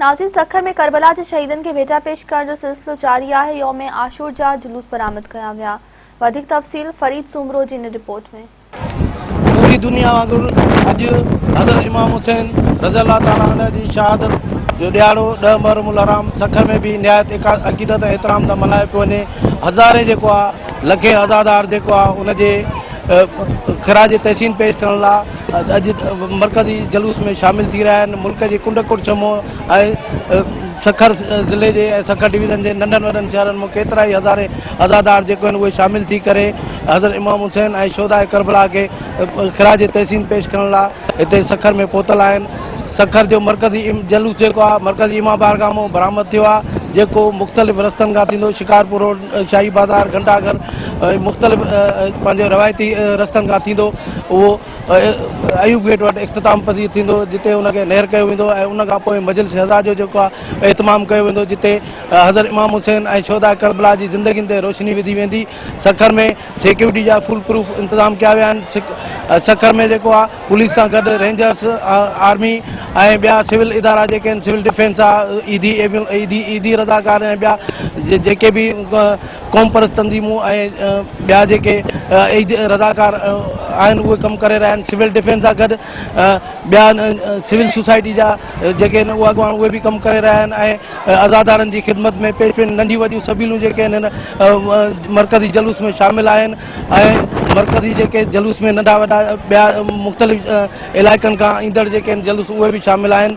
ناظرين سکر ۾ ڪربلا جي شهيدن کي ڀيٽا پيش ڪرڻ جو سلسلو جاري آهي، يوم عاشور جا جلوس برآمد ڪيا ويا، وڌيڪ تفصيل فريد سومرو جي ان رپورٽ ۾. پوري دنيا وانگر اڄ حضرت امام حسين رضي الله تعالٰي عنه جي شهادت جو ڏهاڙو ڏهه محرم الحرام سکر ۾ به نهايت عقيدت ۽ احترام سان ملهايو پيو وڃي هزارين جيڪو آهي لکين عزادار جيڪو آهي ان جي خراج تحسين پيش ڪرڻ لاء اڄ مرڪزي جلوس ۾ شامل ٿي رهيا آهن ملڪ جي ڪنڊ ڪوٽ چمو ۽ سکر ضلعي جي ۽ سکر ڊويزن جي ننڍن وڏن شهرن مان ڪيترائي هزارين عزادار جيڪو آهن اهي شامل ٿي ڪري حضرت امام حسين ۽ شهداء ڪربلا کي خراج تحسين پيش ڪرڻ لاء هتي سکر ۾ پهتل آهن سکر جو مرڪزي جلوس جيڪو آهي مرڪزي امام بارگاهه مان برآمد ٿيو آهي جيڪو مختلف رستن کان ٿيندو شڪارپور روڊ شاهي بازار گهنٽا گهر مختلف پنهنجو روايتي رستن کان ٿيندو اهو ايوب گيٽ وٽ اختتام پذير ٿيندو جتي ان کي نهر ڪيو ويندو ۽ ان کان پوء مجلس شهداء جو جيڪو آهي اهتمام ڪيو ويندو جتي حضرت امام حسين ۽ شهداء ڪربلا جي زندگين تي روشني وڌي ويندي سکر ۾ سيڪيورٽي جا فول پروف انتظام ڪيا ويا آهن سکر ۾ جيڪو آهي پوليس سان گڏ رينجرس آرمي ۽ ٻيا سول ادارا جيڪي آهن سول ڊفينس آهي عيدي عيدي عيدي رضاڪار ۽ ٻيا جيڪي به قومپرست تنظيمون ۽ ٻيا جيڪي رضاڪار آهن اهي ڪم ڪري رهيا آهن سول ڊفينس سان گڏ ٻيا سول سوسائٽي جا جيڪي آهن اهي اڳواڻ اهي به ڪم ڪري رهيا آهن ۽ عزادارن جي خدمت ۾ پيش پين ننڍيون وڏيون سبيلون جيڪي آهن هن مرڪزي جلوس ۾ شامل آهن ۽ مرڪزي جيڪي جلوس ۾ ننڍا وڏا ٻيا مختلف علائقن کان ايندڙ جيڪي آهن جلوس اهي به شامل آهن